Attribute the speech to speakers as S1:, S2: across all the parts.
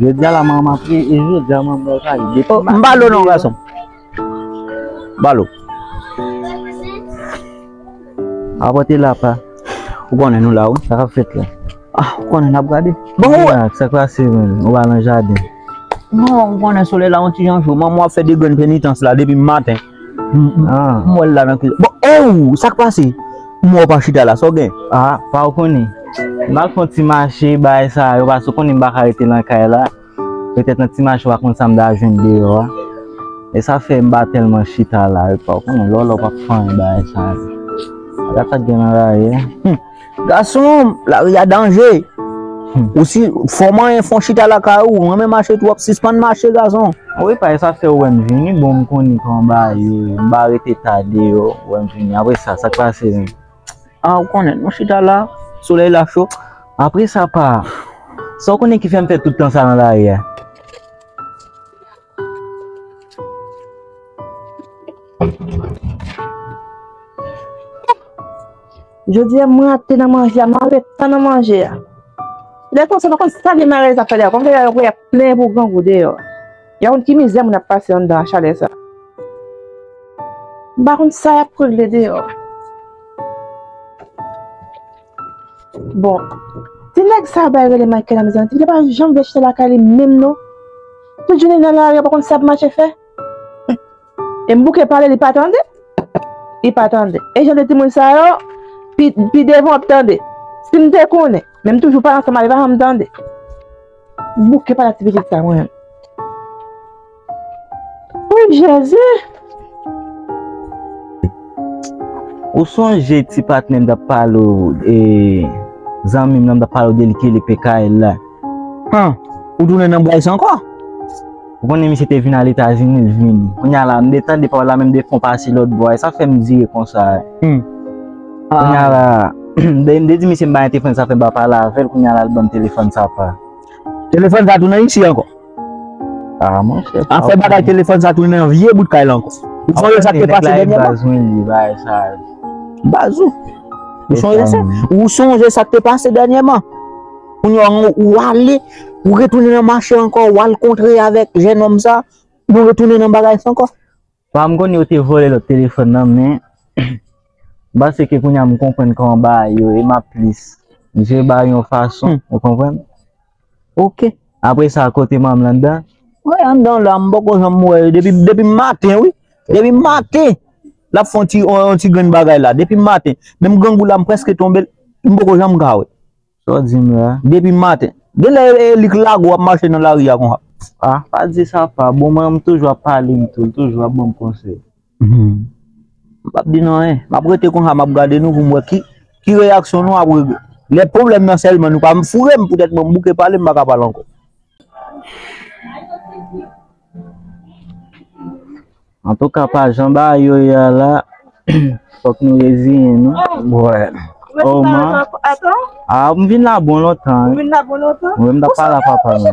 S1: Je dja
S2: la manman ap ri e je dja manman ap ri de pi maten. Mbalo non gason.
S1: Mbalo.
S2: A pote la pa. Ou konnen nou
S1: la ou. Sa kap fet la.
S2: A ou konnen nap
S1: gade. Bon ou. A sa kwa
S2: se men. Ou ba lan jade. Non ou
S1: konnen sole la ou ti jan jou. Manman ap fe de gren penitans la de pi maten.
S2: M wè l la nan kilòt.
S1: Bon e ou! Sa k pase? M wè w pa chita la. Sa w gen? A! Pa w konnen.
S2: M al fè yon ti mache bagay sa yo pase w konnen m pa ka rete nan kay la. Petèt nan ti mache w pa konn sa m ta jwenn deyò a. E sa fè m pa tèlman chita la. Pa w konnen lò lò pa p fè anyen bagay sa yo. Gad sa k gen nan la ri a. Gason,
S1: lari a danje. Ou si fò manyen fon chita lakay ou, ou renmen mache twòp, sispann mache gason. Wi pay sa fè
S2: ou wè m vini bon m konnin kòman bagay yo ye m pa rete ta deyò ou wè m vini apre sa sak pase menm. Ah ou
S1: konnen nou chita la solèy la cho apre sa pa
S2: sa ou konnen ki fè m fè tout tan sa nan lari a.
S3: Jodi a m rate nan manje a, m anlè tan nan manje a. Lè konsa pa konn sa li mare zafè li a, konn lè yo ap plenyen pou grangou deyò. Yo pa konn ki mizè moun ap pase anndan a chalè sa. M pa konn sa y ap regle deyò. Bon, ti nèg sa bay rele Michael la mezanmi, ti nèg sa pa janm vle chita lakay li menm non. Tout jounen li nan lari a pa konn sa l ap mache fè. E m bouke pale li pa tande. Li pa tande. E jan de timoun sa yo, pi devan ap tande. Si m te konnen. Men m toujou pale ansanm avè l, li pa janm tande. M bouke pale ak ti pitit sa mwen. Ou jezi!
S2: Ou sonje ti patnè m t ap pale ou e zanmi m nan m t ap pale ou de li ki rele PKL la? Huh!
S1: Ou tounen nan Bryce ankò? Ou konnen
S2: misye te vin al Etazini, l vini. Kounya la, m de tande pawòl la men m de fon pase lòt bò a. E sa k fè m dire konsa a? Huh! Kounya la, dèyè m de di misye m ba li telefòn sa fè m pa pale avè l, kounya la l ban m telefòn sa pa. Telefòn sa
S1: tou nan isi ankò? Ah
S2: monchè, pa. Afè bagay telefòn sa
S1: tounen nan vye bout kay la ankò. Ou sonje sa k te pase dènyèman? Nèg la e baz mwen li, bagay sa a. Baz ou? Ou sonje sa? Ou sonje sa k te pase dènyèman? Kounye an ou ale, ou retounen nan mache ankò, ou al kontre avèk jenòm sa, nou retounen nan bagay sa ankò. Pa m konnen yo
S2: te vòlè lòt telefòn nan men, m panse ke kounye an m konprann kòman bagay yo ye, m ap plis jere bagay yon fason, ou konprann. Ok,
S1: apre sa
S2: kote manm lan anndan? Mwen anndan la,
S1: m poko janm wè yo depi maten wi, depi maten l ap fè yon ti grenn bagay la, depi maten. Menm grangou la m prèske tonbe, m poko janm ka wè. Sa w di m la?
S2: Depi maten.
S1: Gen lè li k lague w ap mache nan lari a konsa. Ah pa di sa
S2: pa bon mwen m toujou ap pale m tou l toujou ap ban m konsèy.
S1: M pap di nou anyen. M ap rete konsa m ap gade nou pou m wè ki reyaksyon nou apre lè pwoblèm nan sèlman nou pa m foure m poutèt mwen m bouke pale m pa ka pale ankò.
S2: Antouka pa jan bagay yo ye a la fòk nou reziyen nou. M vin la bon lontan.
S3: M ta pa la papa
S2: m.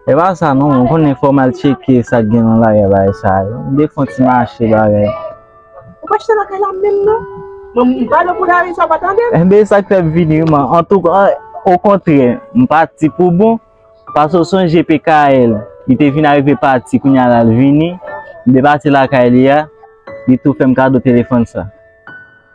S3: Epa sa
S2: non mwen konnen fòm al tcheke sak gen nan lagè bagay sa yo m defon ti mache bagay. Ou pa
S3: chita lakay la menm non. Mwen m pale pou Dary sa ou pa tande m. Enben sak fèm vini
S2: wi man antouka okontrè m pati pou bon pase ou sonje PKL li te vin arive pati kounya la l vini m depase lakay li a li tou fèm kado telefòn sa.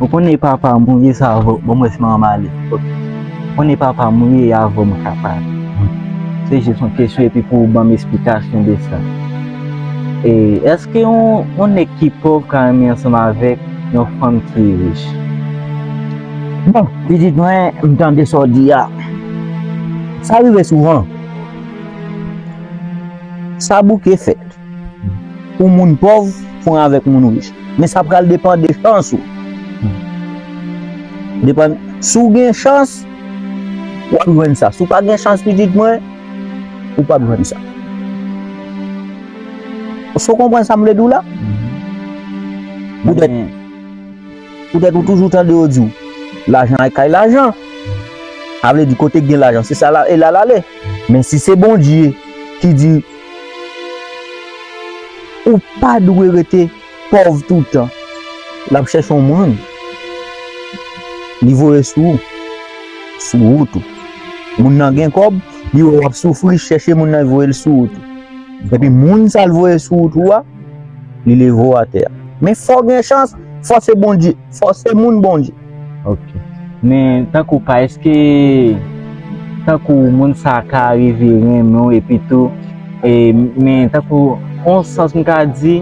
S1: Ou konnen e papa
S2: m ou ye sa vo bon mwen se manman m ale ok ou konnen e papa m ou ye ya vo mwen ka pale se jis yon kesyon epi pou ou ban m esplikasyon de sa e eske yon nèg ki pòv ka renmen ansanm avèk yon fanm ki rich.
S1: Bon pitit mwen m tande sa w di a sa rive souvan sa bouke fèt. Pou moun pòv pran avèk moun rich. Men sa pral depan de chans ou. Depan, si w gen chans, w ap jwenn sa. Si w pa gen chans pitit mwen, ou p ap jwenn sa. Èske w konprann sa m vle di w la? Poutèt, poutèt ou toujou tande yo di w, lajan al kay lajan. Sa vle di kote gen lajan se sa e la l ale. Men si se Bondye ki di. Ou pa dwe rete pòv toutan. L ap chèche yon moun li voye sou wout ou. Moun nan gen kòb, li wè w ap soufri, li chèche moun nan voye l sou wout ou. Epi moun sa l voye sou wout ou a, li leve w atè. Men fò w gen chans, fòse moun Bondye. Ok
S2: men tankou pa eske tankou moun sa ka rive renmen w epi tou e men tankou on sans m ka di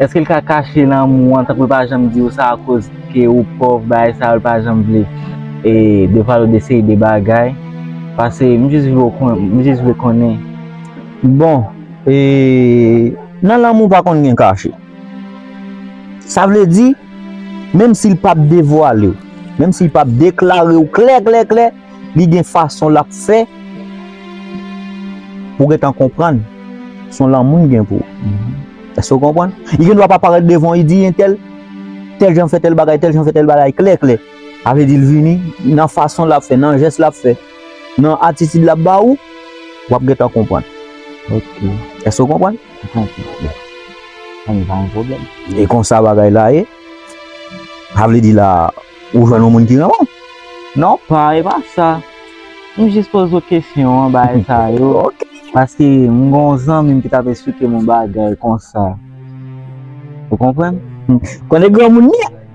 S2: eske l ka kache lanmou an tankou l pa janm di w sa akoz ke ou pòv bagay sa yo l pa janm vle e devan l de seri de bagay pase m jis vle w konnen m jis vle konnen. Bon
S1: e nan lanmou pa konn gen kache. Sa vle di, menm si l pap devwale w, menm si l pap deklare w klè klè klè, li gen fason l ap fè pou w gentan konprann se yon lanmou l gen pou ou. Èske w konprann? Li gen dwa pa parèt devan w, li di entèl, tèl jan fè tèl bagay, tèl jan fè tèl bagay klè klè. Sa vle di l vini nan fason l ap fè, nan jès l ap fè. Nan atitid lap ba ou, wap gentan konprann. Ok.
S2: Èske ou
S1: konprann? M konprann byen.
S2: Sa m pa yon pwoblèm. E konsa bagay
S1: la ye. Sa vle di la ou jwenn yon moun ki renmen w? Non pa
S2: e pa sa. M jis poze w kesyon an bagay sa yo. Ok. Paske m gen yon zanmi m ki tap esplike m yon bagay konsa. Ou konprann? Konnen granmoun
S1: li a.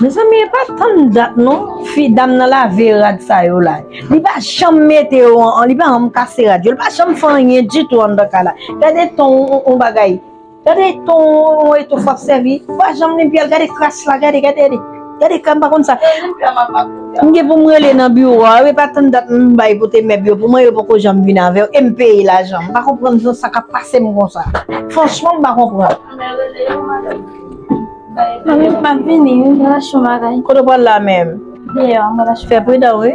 S3: Mezanmi epa tann dat non fi dam nan lave rad sa yo la li pa janm mete yo an li pa janm kase rad yo li pa janm fè anyen ditou anndan kay la gade ton on bagay gade ton on etofò ap sèvi li pa janm netwye l gade kras la gade gade. Gade ka m pa konn sa. M gen pou m rele nan biwo a, e pa tann dat m bay pou te mèb yo pou mwen yo poko janm vin avè yo e m peye lajan. M pa konprann nan sa k ap pase m konsa. Franchman m pa konprann.
S4: Mwen m ap vini wi, m pral achte yon bagay. Kote w pral la menm?
S3: Deyò, m pral achte. Fè
S4: pridan wi.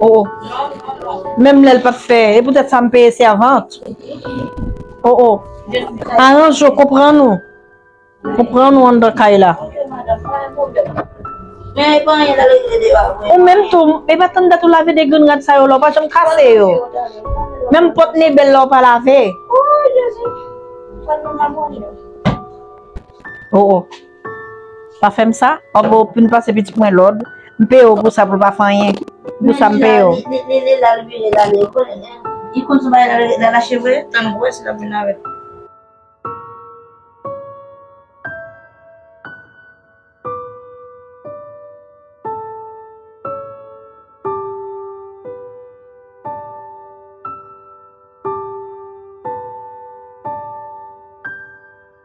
S3: Oh oh Menm lè l pa t fè E poutèt sa m peye sèvant Oh oh Aranje w Konprann ou Konprann ou anndan kay la
S4: Ou menm tou E
S3: pa tann dat ou lave de grenn rad sa yo la Ou pa janm kase yo Menm pòt mebèl la ou pa lave
S4: Oh
S3: oh Pa fèm sa oh boo pu pase pitit mwen lòd m peye w pou sa pou l pa fè anyen pou sa m peye w.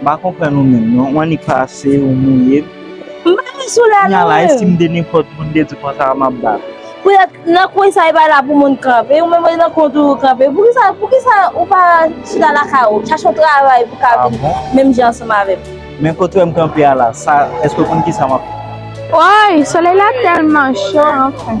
S2: M pa konprann ou menm non, ou annik pase, ou mouye m. M pa vin sou
S3: lè nou menm. Kounye a la, e si m te
S2: nenpòt moun de di konsa a m ap bat ou? Poutèt nan
S3: kwen sa e pa la pou moun kanpe, ou menm e nan kwen w toujou kanpe. Poukisa ou pa chita lakay ou, chache yon travay pou w ka viv menm jan ansanm avè m? Men kote w wè m kanpe
S2: a la, sa, èske w konn kisa m ap. Woy!
S3: Solèy la tèlman cho anfen.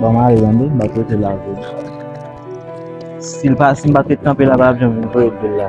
S2: Ba ma re yon mba te te la ve. Si l pa si mba te kanpe la ba ap janm vwe de la.